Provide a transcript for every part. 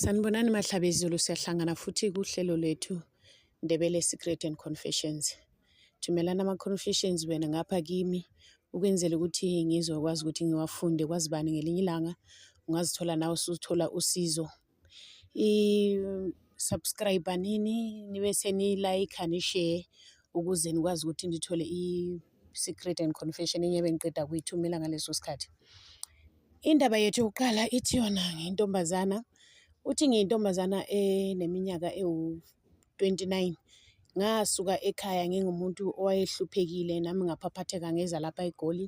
Sanibonani Mahlabezulu, siyahlangana futhi kuhlelo lethu Ndebele Secret and Confessions. Thumelana ama-confessions wena ngapha kimi ukwenzela ukuthi ngizokwazi ukuthi ngiwafunde kwazi bani ngelinye ilanga ungazithola nawe usuthola usizo. I-subscribe nini nibe seniyi-like nishare ukuze nikwazi ukuthi nithole Secret and Confession enye bengiqeda kuyithumela ngaleso sikhathi. Indaba yethu yokuqala ithi yona ngentombazana, uthi ngiyintombazana eneminyaka ewu-twenty-nine. Ngasuka ekhaya ngingumuntu owayehluphekile nami ngaphaphatheka ngeza lapha eGoli.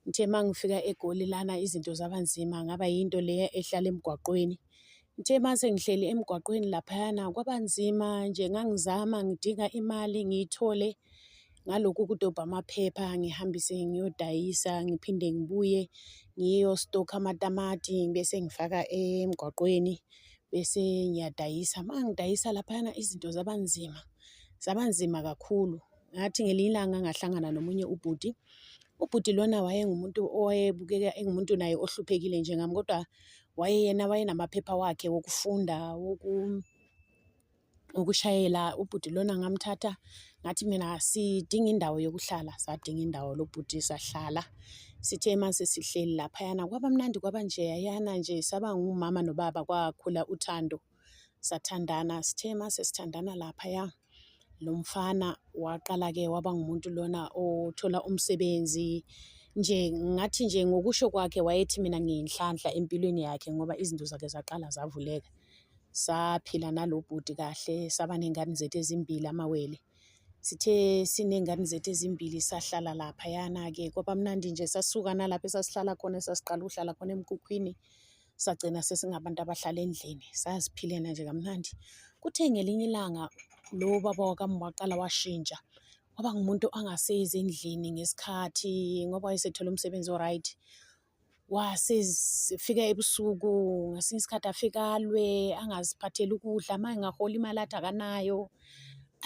Ngithe uma ngifika eGoli lana izinto zaba nzima ngaba yinto leya ehlala emgwaqweni. Ngithe uma sengihleli emgwaqweni laphayana kwaba nzima nje ngangizama ngidinga imali ngiyithole ngalokhu kudobha amaphepha ngihambise ngiyodayisa ngiphinde ngibuye ngiyostokha amatamati bese ngifaka emgwaqweni bese ngiyadayisa. Uma ngidayisa laphayana izinto zaba nzima, zaba nzima kakhulu. ngathi ngelinye ilanga ngahlangana nomunye ubhuti ubhuti lona wayengumuntu owayebukeka engumuntu naye ohluphekile njengami kodwa wayeyena wayenamaphepha wakhe wokufunda woku ukushayela ubhuti lona ngamthatha ngathi mina sidinga indawo yokuhlala sadinga indawo lobhuti sahlala sithe uma sesihleli laphayana kwaba mnandi kwaba nje yayana nje saba ngumama nobaba kwakhula uthando sathandana sithe uma sesithandana laphaya lo mfana waqala-ke waba ngumuntu lona othola umsebenzi nje ngathi nje ngokusho kwakhe wayethi mina ngiyinhlanhla empilweni yakhe ngoba izinto zakhe zaqala zavuleka saphila nalo bhuti kahle saba ney'ngane zethu ezimbili amawele sithe siney'ngane zethu ezimbili sahlala laphayana-ke kwaba mnandi nje sasuka nalapho esasihlala khona esasiqala ukuhlala khona emkhukhwini sagcina sesingabantu abahlala endlini saziphilena nje kamnandi kuthe ngelinye ilanga lo baba wakami waqala washintsha waba ngumuntu angasezi endlini ngesikhathi ngoba wayesethole umsebenzi o-right wasefika ebusuku ngesinye isikhathi afikalwe angaziphatheli ukudla uma engahola imali athi akanayo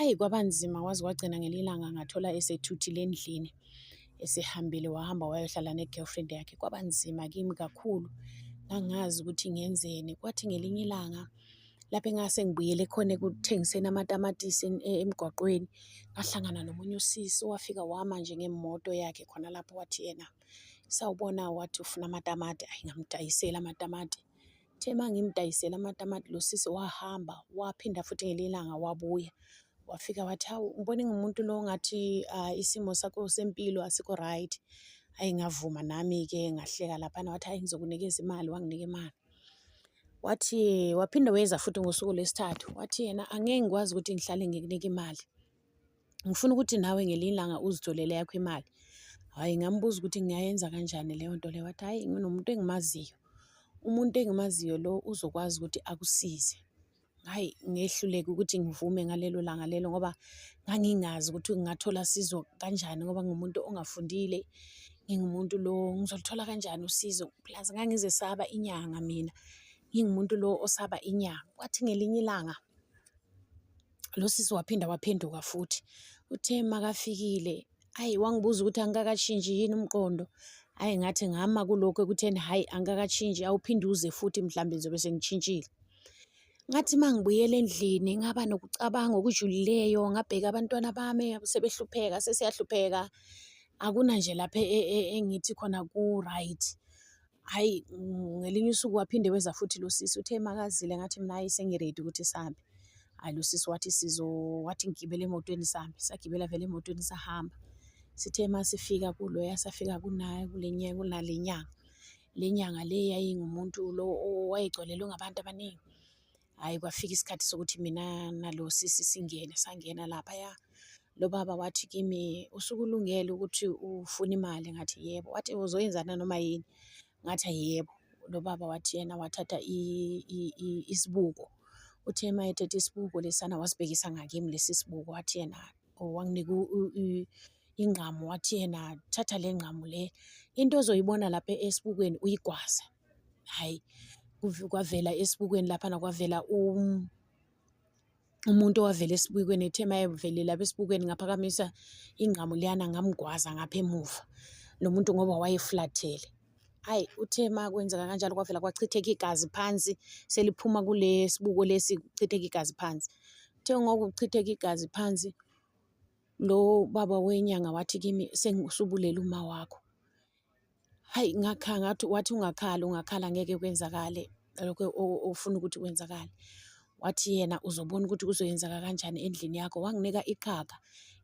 Ayi kwabanzima kwaze kwagcina ngelinye ilanga ngathola esethuthile endlini esehambile wahamba wayohlala ne-girlfriend yakhe kwabanzima kimi kakhulu ngangazi ukuthi ngenzeni kwathi ngelinye ilanga lapho engase ngibuyele khona ekuthengiseni amatamatisi e, emgwaqweni ngahlangana nomunye usisi owafika wama nje ngemoto yakhe khona lapho wathi yena sawubona wathi ufuna amatamati ayi ngamdayisela amatamati Uthe uma ngimdayisela amatamati lo sisi wahamba waphinda futhi ngelinye ilanga wabuya wafika wathi hawu ngibone ngumuntu lo ngathi ah, isimo sakho sempilo asikho right ayi ngavuma nami-ke ngahleka laphana wathi hayi ngizokunikeza imali wanginika imali wathi waphinde weza futhi ngosuku lwesithathu wathi yena angeke ngikwazi ukuthi ngihlale ngikunika imali ngifuna ukuthi nawe ngelinye ilanga uzitholele yakho imali hhayi ngambuza ukuthi ngiyayenza kanjani leyo nto leyo wathi hhayi nginomuntu engimaziyo umuntu engimaziyo lo uzokwazi ukuthi akusize hhayi ngehluleke ukuthi ngivume ngalelo langa lelo ngoba ngangingazi ukuthi ngingathola sizo kanjani ngoba ngumuntu ongafundile ngingumuntu lo ngizolithola kanjani usizo plus ngangizesaba inyanga mina ngingumuntu lo osaba inyanga kwathi ngelinye ilanga lo sisi waphinda waphenduka futhi uthe makafikile ayi wangibuza ukuthi angikakashinji yini umqondo ayi ngathi ngama kulokhu ekutheni hhayi angikakashinji awuphinde uze futhi mhlawumbe ngizobe sengishintshile ngathi uma ngibuyela endlini ngaba nokucabanga okujulileyo ngabheka abantwana bami sebehlupheka sesiyahlupheka akuna nje lapha e, e, engithi khona ku-right Hhayi ngelinye usuku waphinde weza futhi lo sisi uthe makazile ngathi mina hhayi sengiredi ukuthi sihambe. Hhayi lo sisi wathi sizo wathi ngigibele emotweni sihambe, sagibela vele emotweni sahamba. Sithe uma sifika kuloya safika kunaye kule kunale nyanga, le nyanga le yayingumuntu lo owayegcwalelwe ngabantu abaningi. Hhayi kwafika isikhathi sokuthi mina nalo sisi singene, sangena laphaya. Lo baba wathi kimi, usukulungele ukuthi ufune imali? Ngathi yebo. Wathi uzoyenza nanoma yini? Ngathi yebo. Lo baba wathi yena wathatha isibuko. Uthe uma ethethe isibuko lesana wasibhekisa ngakimi lesi sibuko, wathi yena wanginika ingqamu, wathi yena thatha le ngqamu le, into ozoyibona lapha esibukweni uyigwaze. hhayi kwavela esibukweni laphana kwavela um, umuntu owavela esibukweni ethe uma evelela besibukweni ngaphakamisa ingqamu liyana ngamgwaza ngapha emuva lo muntu ngoba wayeflathele hhayi uthe uma kwenzeka kanjalo kwavela kwachitheka igazi phansi seliphuma kule sibuko lesi kuchitheka igazi phansi uthe ngokuchitheka igazi phansi lo baba wenyanga wathi kimi sengisubulela uma wakho Hhayi ngakhala ngathi wathi ungakhala ungakhala ngeke kwenzakale lokho ofuna ukuthi kwenzakale. Wathi yena uzobona ukuthi kuzoyenzeka kanjani endlini yakho, wanginika iqhaga.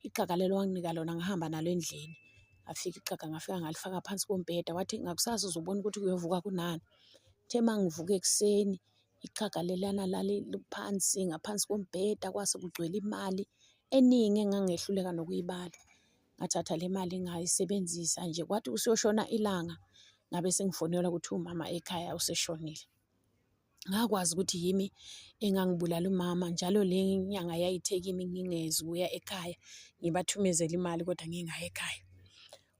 Iqhaga lelo wanginika lona ngahamba nalo endlini, ngafika iqhaga ngafika ngalifaka phansi kombheda. Wathi ngakusasa uzobona ukuthi kuyovuka kunani. Kuthe uma ngivuka ekuseni iqhaga lelana laliphansi ngaphansi kombheda kwase kugcwele imali eningi engangehluleka nokuyibala. ngathatha le mali ngayisebenzisa nje kwathi kusiyoshona ilanga ngabe sengifonelwa ukuthi umama ekhaya useshonile ngakwazi ukuthi yimi engangibulala umama njalo le nyanga yayithe kimi ngingezi ukuya ekhaya ngibathumezele imali kodwa ngingayi ekhaya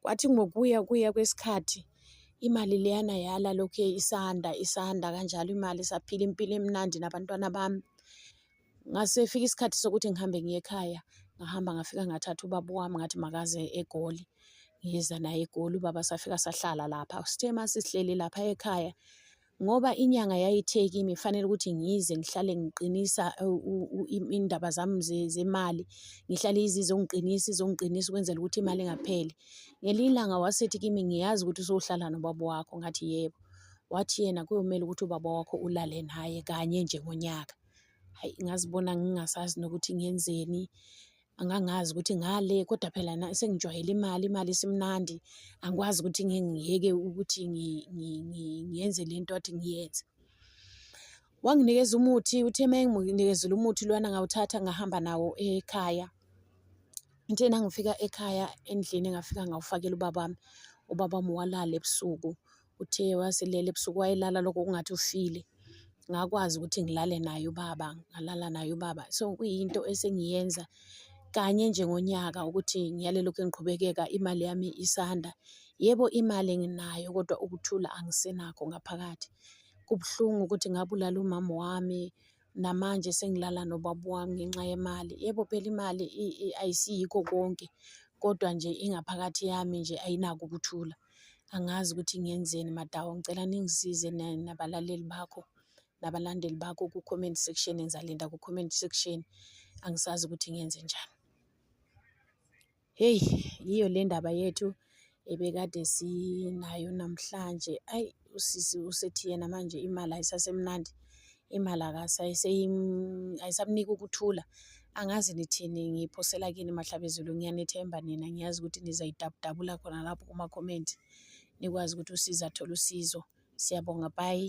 kwathi ngokuya kuya kwesikhathi imali leyana yala lokhu isanda isanda kanjalo imali saphila impilo emnandi nabantwana bami Ngase fika isikhathi sokuthi ngihambe ngiye ekhaya, ngahamba ngafika ngathatha ubaba wami ngathi makaze eGoli. Ngiza naye eGoli, ubaba safika sahlala lapha. Sithe uma sisihleli lapha ekhaya, ngoba inyanga yayithe kimi fanele ukuthi ngize ngihlale ngiqinisa indaba zami zemali, ngihlale izize ungiqinisa, izongiqinisa ukwenzela ukuthi imali ingapheli. Ngelinye ilanga wasethi kimi, ngiyazi ukuthi usuhlala nobaba wakho, ngathi yebo. Wathi yena kuyomele ukuthi ubaba wakho ulale naye kanye nje ngonyaka. Hhayi ngazibona ngingasazi nokuthi ngenzeni, angangazi ukuthi ngale kodwa phela sengijwayele imali, imali isimnandi. Angikwazi ukuthi ngeke ngiyeke ukuthi ngiyenze le nto kade ngiyenze. Wanginikeza umuthi, uthe uma enginikezile umuthi lona ngawuthatha ngahamba nawo ekhaya. Uthe nangifika ekhaya endlini ngafika ngawufakela ubaba wami, ubaba wami walala ebusuku. Uthe waselele ebusuku wayelala lokho kungathi ufile. Ngakwazi ukuthi ngilale naye ubaba, ngalala naye ubaba. So kuyinto esengiyenza kanye nje ngonyaka ukuthi ngiyale lokhu engiqhubekeka imali yami isanda. Yebo imali nginayo kodwa ukuthula angisenakho ngaphakathi. Kubuhlungu ukuthi ngabulala umama wami, namanje sengilala nobaba wami ngenxa yemali. Yebo phela imali ayisiyikho konke, kodwa nje ingaphakathi yami nje ayinako ukuthula. angazi ukuthi ngenzeni madawo ngicela ningisize nabalaleli bakho nabalandeli bakho ku-comment section ngizalinda ku-comment section angisazi ukuthi ngenze njani heyi yiyo le ndaba yethu ebekade sinayo namhlanje ayi usisi usethi yena manje imali ayisasemnandi imali ayisamniki ukuthula angazi nithini ngiphosela kini mahlabezulu ngiyanethemba nina ngiyazi ukuthi nizayidabudabula khona lapho kumakhomenti nikwazi ukuthi usiza athole usizo siyabonga bayi